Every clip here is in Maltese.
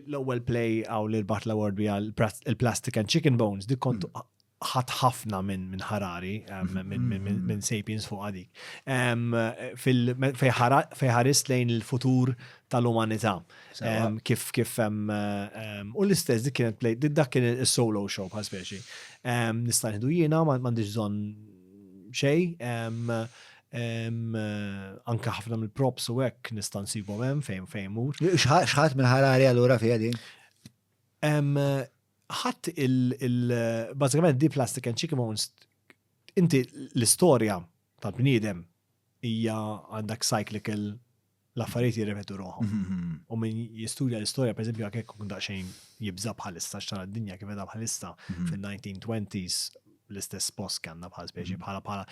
L-ewwel play hawn li rbaħt l-award bija l-Plastic and Chicken Bones, dik kont hmm. ħadd ħafna minn Harari, minn Sapiens fuq għadik. Fej ħarist lejn il-futur tal-umanità. Kif kif u l-istess dik kienet play, dak kien il-solo show bħal speċi. Nista' jiena, m'għandix bżonn xej. Anke ħafna mill-props u hekk nista' nsibhom hemm fejn fejn mur. X'ħadd minn ħarari allura fiha din? Ħadd il-bażikament di plastic and chicken bones inti l-istorja tal-bniedem hija għandak cyclical l-affarijiet jirrepetu ruħhom. U min jistudja l-istorja, per eżempju, għakek kun daqxejn jibza bħalissa xtara d-dinja kif edha bħalissa fil-1920s l-istess post kanna bħal speċi bħala bħala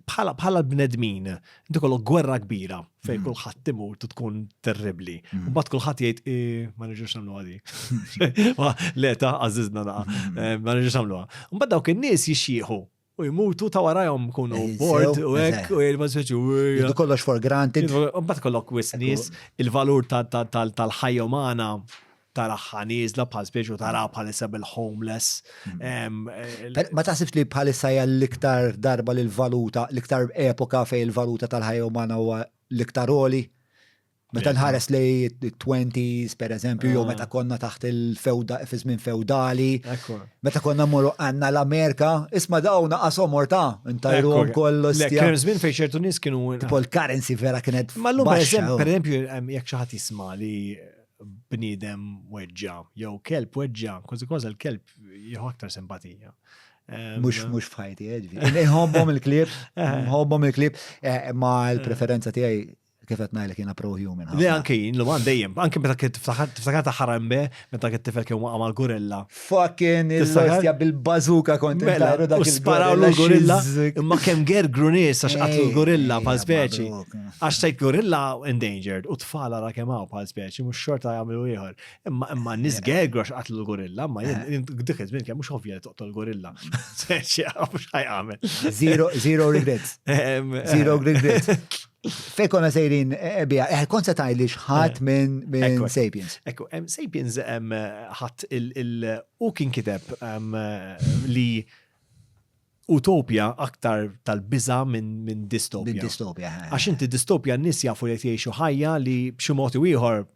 bħala bħala bnedmin dikolo gwerra kbira fej mm. kullħat timur tkun terribli. Mm. U bat kullħat jgħid ma nirġux nagħmlu għadi. Leta għażiżna naqa. Mm. Eh, ma nirġux nagħmlu. U bat dawk in-nies jixxieħu u jmutu ta' warajhom kunu eh, board u hekk u jgħidu mażeġ u jgħidu kollox for granted. Mbagħad kollok wis nies il-valur tal-ħajja umana taraħħa nieżla bħal spiex tara bħalissa bil-homeless. Mm. Eh, ma taħsibx li bħalissa hija l-iktar darba l-valuta, l-iktar epoka fej il-valuta tal-ħajja umana huwa l-iktar oli? Meta nħares li 20s per eżempju, jew ah. meta konna taħt il-fewda, fizmin feudali, meta konna morru għanna l-Amerika, isma dawna għasom morta, intajru għom kollu stja. Kien zmin fej ċertu nis kienu. Tipo l-currency vera kienet. Ma l-lum per eżempju, jek xaħat jisma li bnidem weġġa, jew kelb weġġa, kważi kważi l-kelb jieħu aktar simpatija. Mux, mux fħajti, ġvi. Nħobbom il-klib, nħobbom il-klib, eh, ma l-preferenza tijaj kif qed ngħidlek jiena pro human. Le anke jien l dejjem, anke meta kif tiftakar ta' ħarambe meta kif tifel kien waqa' mal-gorilla. Fucking il-lostja bil-bazuka kont mela, dak il Sparaw l-gorilla, imma kemm ger grunis għax qatlu l-gorilla bħal speċi. Għax sejt gorilla endangered u tfala ra kemm hawn bħal speċi mhux xorta jagħmlu ieħor. Imma imma nies gergru għax qatlu l-gorilla, ma jien eh. dik iż-żmien kemm mhux ovvja li toqtol gorilla. Speċi għax ħajqamel. Zero regrets. Zero regrets. Fej konna sejrin eh, eh, bija, eh, kont se tajli xħat eh, minn Sapiens. Ekku, Sapiens ħat il-u kien kiteb li utopja aktar tal-biza minn distopja. Minn distopja. Għax inti distopja n-nis jafu li jgħixu ħajja li b'ximot u ieħor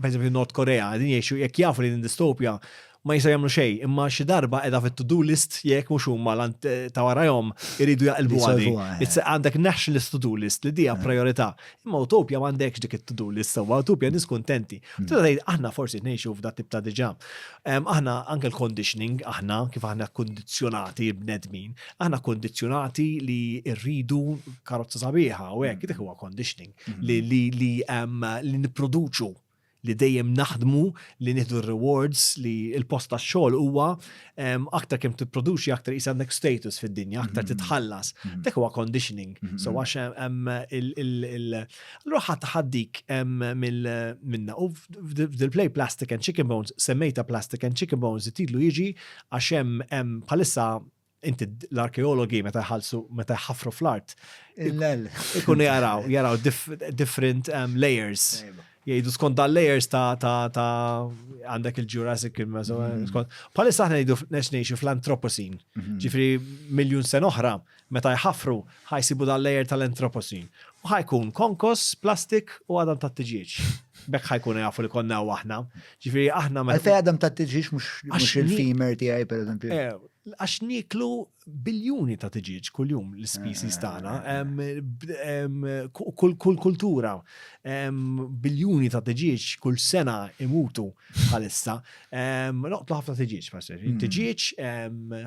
pereżempju North Korea, qegħdin jgħixu jekk jafu li din distopja ma jistgħu jagħmlu xejn, imma xi darba qiegħda fit-to-do list jekk mhux huma ta' warajhom iridu jaqilbu għadi. Għandek nationalist to-do list li dija priorità. Imma utopja m'għandekx dik it-to-do list sewwa, utopja nies kuntenti. Tista' tgħid aħna forsi ngħixu f'da tip ta' diġà. Aħna anke l-conditioning aħna kif aħna kkundizzjonati l-bnedmin, aħna kkundizzjonati li rridu karozza sabiħa u hekk, dak huwa conditioning. li li li li nipproduċu li dejjem naħdmu li nieħdu rewards li l-post tax-xogħol huwa aktar kemm tipproduċi aktar is għandek status fid-dinja, aktar mhm. titħallas. Mhm. Dak huwa conditioning. Mhm. So għax hemm il Allura ħadd ħaddik minna u f'dil-play Plastic and Chicken Bones semmejta Plastic and Chicken Bones titlu jiġi għax hemm bħalissa inti l-arkeologi meta jħallsu meta jħafru fl-art. Il-lel. Ikunu jaraw, jaraw different um, layers. Jgħidu skont dal layers ta' ta' ta' għandek il-Jurassic il-Meso. Mm-hmm. Skont. Palissa aħna jgħidu ngħixu fl-antroposin. Mm-hmm. Ġifri miljun sen oħra meta jħafru ħajsibu dal layer tal-antroposin. U ħajkun konkos, plastik u għadam ta' tiġieġ bekk ħajkun jafu li konna u aħna. Ġifiri aħna ma. Għalfej għadam ta' tiġiġ mux il-femur tijaj, per eżempju. Eh, Għax nieklu biljuni ta' tiġieġ kuljum l-species tagħna, kull kultura biljuni ta' tiġieġ kull sena imutu bħalissa. Noqtlu ħafna tiġieġ, mm. tiġieġ,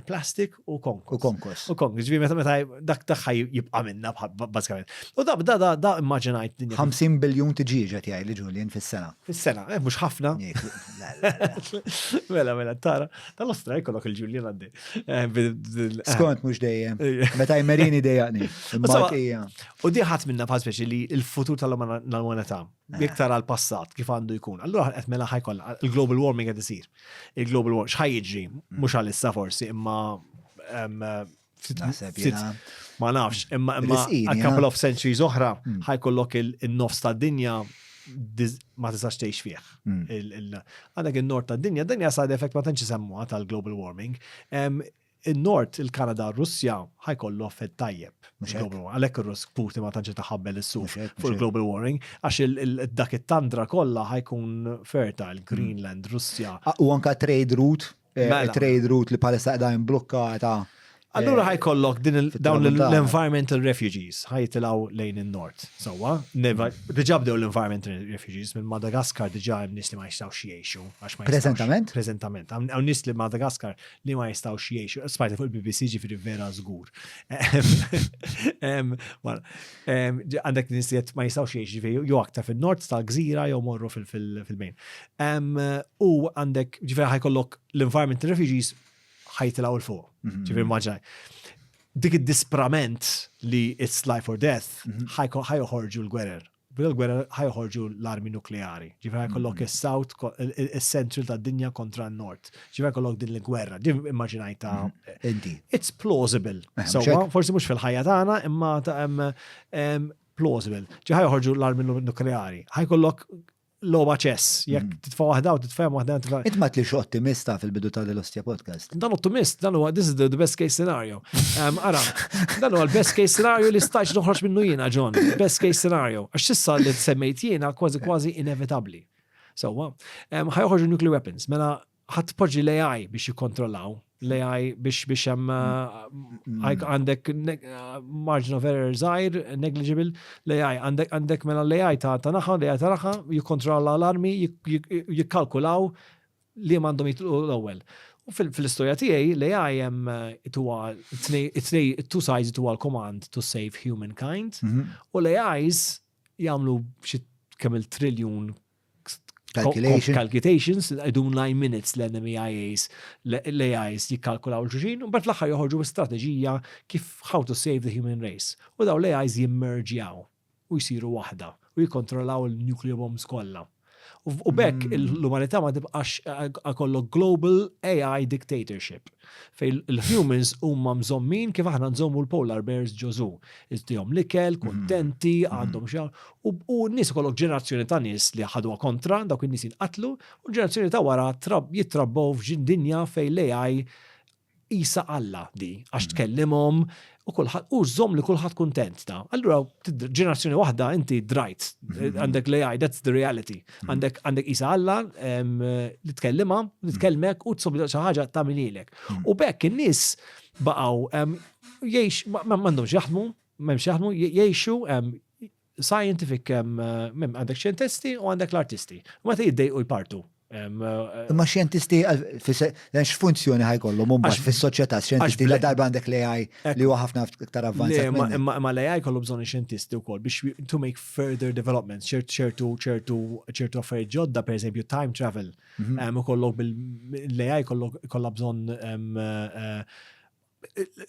plastik u konkos. U konkos. U konkos, ġivi meta meta dak taħħa jibqa' minna bażikament. U da da da immaġinajt. 50 biljun tiġieġ qed jgħid li Julian fis-sena. Fis-sena, eh, mhux ħafna. Mela mela tara. Tal-ostra jkollok il-Ġuljen għaddi. Eh, Skont mhux dejjem. Meta jmerini dejjaqni. U diħat minna bħal speċi li l-futur tal-umanità eh. iktar għal passat kif għandu jkun. Allura qed mela ħajkoll il-global warming qed isir. Il-global warming x'ħaj jiġri mhux għalissa forsi imma Ma nafx, imma a couple of centuries oħra hmm. ħajkollok il-nofs ta' dinja ma tistax tgħix fih. Hmm. Għandek il-nord ta' dinja, dinja side effect ma tantx isemmuha tal-global warming. Il-nord, il-Kanada, Russja ħajkollu fed tajjeb. Għalhekk ir-Russ Putin ma tantx taħabbel is-suq fuq il-global warming għax dak it-tandra kollha ħajkun fertile, hmm. Greenland, Russja. U anka trade route eh, mela. trade route li palissa għedha imblukkata. Allura eh, ħajkollok dawn l-environmental refugees ħajtilaw lejn il-nord. Sawa, diġa bdew l-environmental refugees minn Madagaskar diġa hemm nies li ma jistgħux jgħixu għax ma Prezentament? Prezentament. Hawn nies li Madagaskar li ma jistgħux jgħixu. Spajta fuq il-BBC ġifieri vera żgur. Għandek nies li ma jistgħux jgħixu jew aktar fin-nord tal-gżira jew morru fil-bejn. U għandek ġifieri ħajkollok l-environment refugees ħajtilgħu l fuq. Mhm. Ġifieri maġaj. Dik id-disprament li it's life or death mhm. ħajħorġu l-gwerer. Bil-gwerer ħajħorġu l-armi nukleari. Ġifieri ħajkollok mhm. is-south, is-central tad-dinja kontra n-nord. ċiva kollok din l-gwerra, din immaġinajta. Mm-hmm. Inti. It's plausible. Eh, Sawa, forsi mux fil-ħajja tagħna, imma plausible. ċiħa joħorġu l-armi nukleari. Ħaj kollok loba ċess, jekk mm-hmm. titfa' waħda u titfa' waħda titfa'. Int ma tlix ottimista fil-bidu ta' l-Ostja Podcast. Dan ottimist, dan huwa this is the best case scenario. Ara, dan huwa l-best case scenario li stajx noħroġ minnu jiena, John. Best case scenario. Għax sissa li semmejt jiena kważi kważi inevitabli. Sewwa, ħa joħorġu nuclear weapons, mela ħadd poġġi l-AI biex jikkontrollaw, l-AI biex biex hemm mm. uh, għandek uh, margin of error żgħir, negligible, l-AI għandek mela l-AI ta' naħa, l-AI ta' naħa, jikkontrolla l-armi, jikkalkulaw li għandhom jitlqu l-ewwel. U fil-istoria tiegħi li għajem eh, tuwa it-two sides tuwa l-command to save humankind mhm. u li għajs jagħmlu xi kemm il-triljun calculations, calculations idun line minutes l-NMEIAs, l-AIs jikkalkulaw l-ġuġin, u bat l-axħar joħorġu strategija kif how to save the human race. U daw l-AIs jimmerġjaw u jisiru waħda u jikontrollaw il-nuclear bombs kollha. U bekk mm. l-umanità ma tibqax għakollok global AI dictatorship. Fej l-humans huma mżommin kif aħna nżommu l-polar bears ġożu. Iżdihom l-ikel, mm. kontenti, mm. għandhom xar. U n-nies kollok ġenerazzjoni ta' nies li ħadu kontra dawk in-nies jinqatlu, u ġenerazzjoni ta' wara jitrabbaw f'ġin dinja fej l-AI qisha Alla di, għax tkellimhom u kulħadd u żomm li kulħadd kuntent ta. Allura ġenerazzjoni waħda inti drajt, mhm. għandek l-AI, that's the reality. Mhm. Għandek għandek qisha Alla li tkellima, li mhm. tkellmek u tsobli xi ħaġa tagħmililek. U bekk in-nies baqgħu jgħix m'għandhomx jaħdmu, m'hemmx jaħdmu, jgħixu Scientific għandek xjentisti u għandek l-artisti. U meta jiddejqu jpartu. Ma xjentisti x'funzjoni ħajkollhom huma fis-soċjetà xjentisti la darba għandek l-AI li huwa ħafna iktar avvanzat. Ma l-AI kollu bżonn xjentisti wkoll biex to make further developments, ċertu ċertu ċertu affarijiet ġodda, pereżempju time travel, ukollok bil-AI kollha bżonn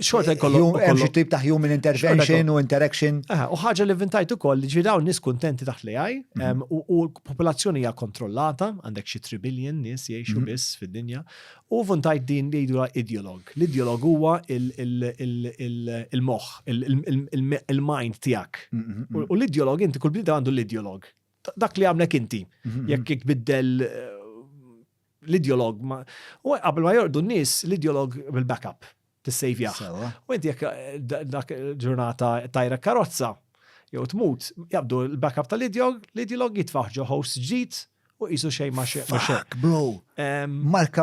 xorta jkollhom. Hemm xi tip ta' human intervention u interaction. U ħaġa li vintajt ukoll li ġidaw nies kuntenti taħt li għaj mhm. u l-popolazzjoni hija kontrollata, għandek xi 3 billion nies jgħixu mhm. biss fid-dinja. U vintajt din li jgħidulha ideolog. L-ideolog huwa il-moħħ, il-mind tiegħek. Mhm, u l-ideolog inti kull bnida għandu l-ideolog. Dak li għamlek inti, jekk biddel l-ideolog, u qabel ma jorqdu n-nis, l-ideolog bil-backup, t-sejvjaħ. U inti jek eh, dak ġurnata tajra karozza, jew tmut, jabdu l-backup tal-ideolog, l-ideolog jitfaħ ġo host ġdid u jisu xej ma xej. Fuck, bro.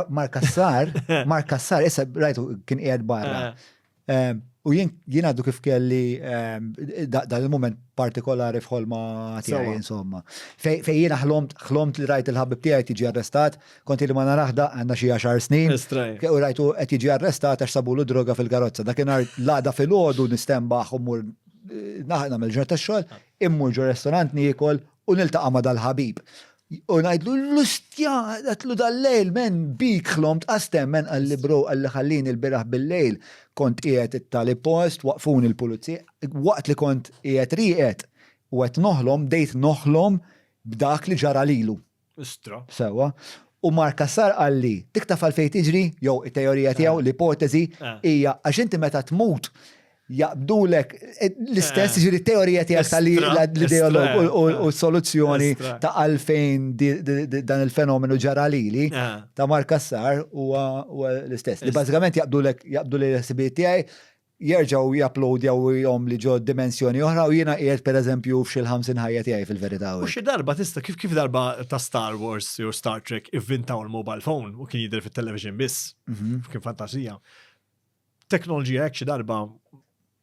Marka Sar, Marka Sar, issa rajtu kien qiegħed barra. Eh. U jien għaddu kif kelli dan il-moment partikolari f'ħolma tiegħi insomma. Fejn jien ħlomt ħlomt li rajt il-ħabib tiegħi qed jiġi arrestat, kont li ma naraħda għandna xi għaxar snin. U rajtu qed jiġi arrestat għax sabulu droga fil-karozza. Dakinhar l-għada filgħodu nistembaħ u mmur nagħmel ġurnata tax-xogħol, immur ġo restorant niekol u niltaqa' ma' dal-ħabib. U ngħidlu l-lustja, għatlu dal-lejl, men, bik ħlomt qastem, men, għalli bro, għalli ħallin il-biraħ bil-lejl, kont qiegħed it-tali post, waqfun il-pulizzi, waqt li kont qiegħed rieqed u qed noħlom, bdejt noħlom b'dak li ġara lilu. Istra. Sewa. U Mark Cassar għalli, dik taf għalfej tiġri, jew it-teorija tiegħu, l-ipotezi, eh. hija għax inti meta tmut, jaqbdulek l-istess, eh. ġiri teorija tijak tal ideolog u soluzzjoni ta' għalfejn dan il-fenomenu ġaralili eh. ta' markassar u l-istess. Li bazzikament jaqbdulek jaqbdu li l-ħsibiet tijaj jerġaw japplodjaw jom li ġo dimensjoni oħra u jina qiegħed per eżempju f'xil ħamsin ħajja tiegħi fil-verità. U xi darba tista' kif kif darba ta' Star Wars jew Star Trek ivvintaw il-mobile phone u kien jidher fit-television biss, mhm. kien fantasija. teknoloġija hekk xi darba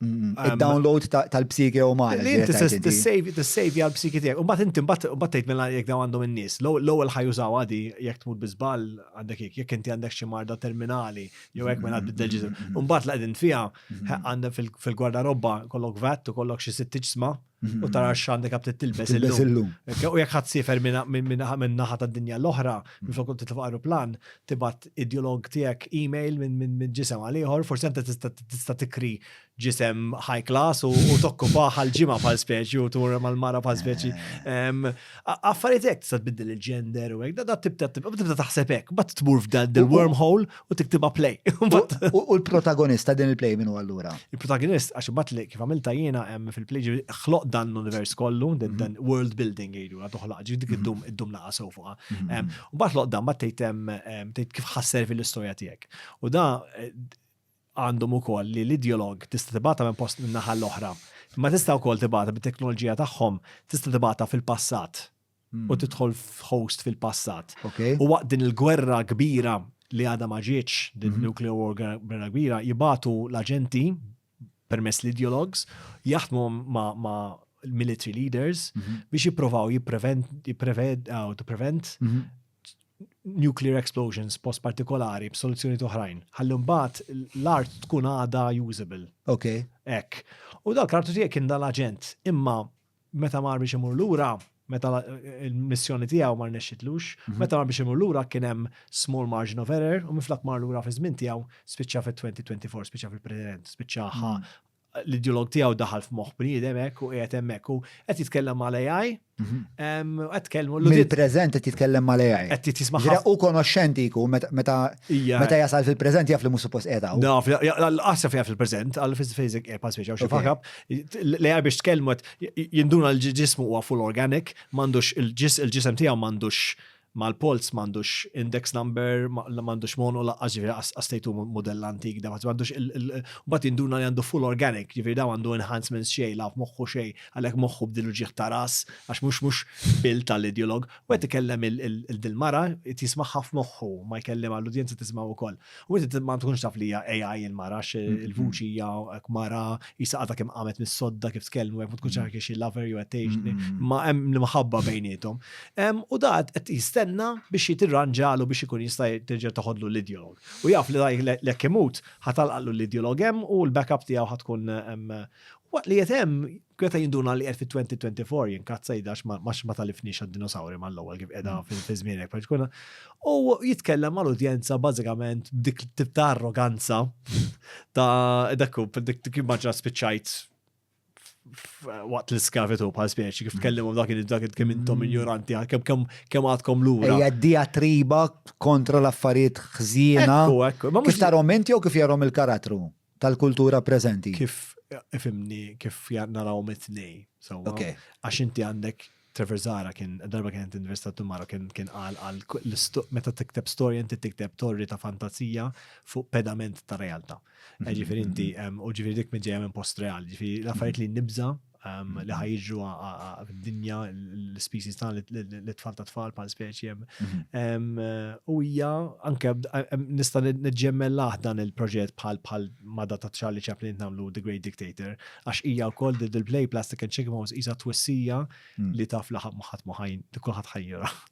Il-download tal-psiki u ma. Li inti t-sejvi għal-psiki tijek. Umbat inti mbatt tejt minna jek daw għandhom n-nis. L-ewel ħajużaw għadi jek tmut bizbal għandek jek jek inti għandek xi marda terminali jew jek minna biddel ġizu. Umbat la għedin fija għandem fil-gwarda robba kollok vat u kollok xi sitt ġisma. u tara mm-hmm. x'għandek għab tilbes illum. U jekk ħadd sifer minn naħa tad-dinja l-oħra, mm-hmm. minn flok titfa' aeroplan, tibgħat ideolog tiegħek email minn ġisem għal ieħor, forsi anta tista' tikri ġisem high class u tokkupa bħal ġimgħa bħal speċi u tur mal-mara bħal speċi. Eh. Affarijiet hekk tista' tbiddel il-gender u hekk, da tibda tibda taħseb hekk, bat tmur f'dan il-wormhole u tiktibha play. U l-protagonista din il-play minn huwa allura? Il-protagonist għax imbagħad li kif għamilta jiena hemm fil-play ħloq dan l-univers kollu, mhm. dan world building jgħidu la toħlaq ġi dik mhm. iddum iddum naqa' sew fuqha. Mhm. U mbagħad ħloq dan mbagħad tgħid tgħid kif ħasser fil-istorja tiegħek. U da eh, għandhom ukoll li l-ideologue tista' tibgħatha minn post lin-naħa l-oħra, imma tista' wkoll tibgħatha bit-teknoloġija tagħhom, tista' tibgħatha fil-passat u tidħol f'host fil-passat. U waqt din il-gwerra kbira li għadha ma ġietx, din nuclear war gwerra kbira, jibgħatu l-aġenti permezz l-ideologues, jaħdmu ma' military leaders biex jipprovaw jipprevent, to prevent, nuclear explosions post partikolari b'soluzzjoni toħrajn. Ħalli mbagħad l-art tkun għada usable. Ok. Ek. U dak l-artu tiegħek kien dal-aġent. Imma meta mar biex imur lura, meta il-missjoni tiegħu mar nexxitlux, mhm. meta mar biex imur lura kien hemm small margin of error u miflak mar lura fi żmien tiegħu spiċċa fit-2024, spiċċa fil-President, spiċċa mhm. l-ideolog tiegħu daħal f'moħħ bniedem hekk u qiegħed hemmhekk u qed jitkellem mal-AI. Mhm. Qed tkellmu l Il-preżent qed jitkellem mal-AI. Qed jitisma' ħafna. U konoxxenti jkun meta meta jasal fil-preżent jaf li mhux suppost qiegħed hawn. Naf, qasja fejn fil-preżent, għal fiż fejżek qiegħed pass xi fakab. L-AI biex tkellmu jinduna l-ġismu huwa full organic, m'għandux il-ġisem tiegħu m'għandux ma l-polz m'għandux index number, m'għandux monu laqqas ġifieri qas tgħidu mudell antik da m'għandux mbagħad jinduna li għandu full organic, ġifieri da għandu enhancements xejn la f'moħħu xejn, għalhekk moħħu b'din il-ġieħ ta' ras għax mhux mhux bil tal-ideolog. U qed ikellem il-din il-mara qed jismagħha f'moħħu, ma jkellimha l-udjenza tismagħu wkoll. U inti ma tkunx taf li hija AI il-mara għax mm-hmm. il-vuċi hija hekk mara jisa għadha kemm qamet mis-sodda kif tkellmu hekk ma tkunx mm-hmm. taf xi lover jew qed mm-hmm. ma hemm l-imħabba bejnietom. U dat qed jistenna biex jitirranġalu biex ikun jista' terġa' toħodlu l-ideolog. U jaf li daj l-ekk imut ħatalqallu l-ideolog hemm u l-backup tiegħu ħatkun waqt li qed hemm Greta jinduna li qed fit-2024 jinkazza jidax ma talifniex għad-dinosawri mal-ewwel kif qiegħda mm. fi żmienek partikolna. U jitkellem mal-udjenza bażikament b'dik tip ta' arroganza ta' dakku dik immaġna spiċċajt waqt l-iskavitu bħal speċi kif mm. tkellimhom dak dak kemm intom mm. ignoranti kemm kemm kemm għadkom lura. Hija diatriba kontra l-affarijiet ħżiena. Ekku, ekku. Kif tarhom inti jew kif jarhom il-karattru? tal-kultura preżenti. Kif ifimni kif naraw mit-tnej. Għax inti għandek Trevor Zara kien darba kien investa tumara kien kien qal għal meta tikteb storja inti tikteb torri ta' fantazija fuq pedament ta' realtà. Mhm, ġifieri inti mhm. u ġifieri dik minn ġejja minn post reali, ġifieri l-affarijiet li nibża' Um, li ħajġu dinja l-species ta' l-tfal ta' tfal pal speċi mhm. um, u hija anke nista' neġġemmellaħ dan il-proġett bħal bħal mada ta' Charlie Chaplin namlu The Great Dictator għax hija wkoll dil play Plastic and Chicken Bones hija twissija mm. li taf li ħadd ma ħadd ma ħajn kulħadd ħajjera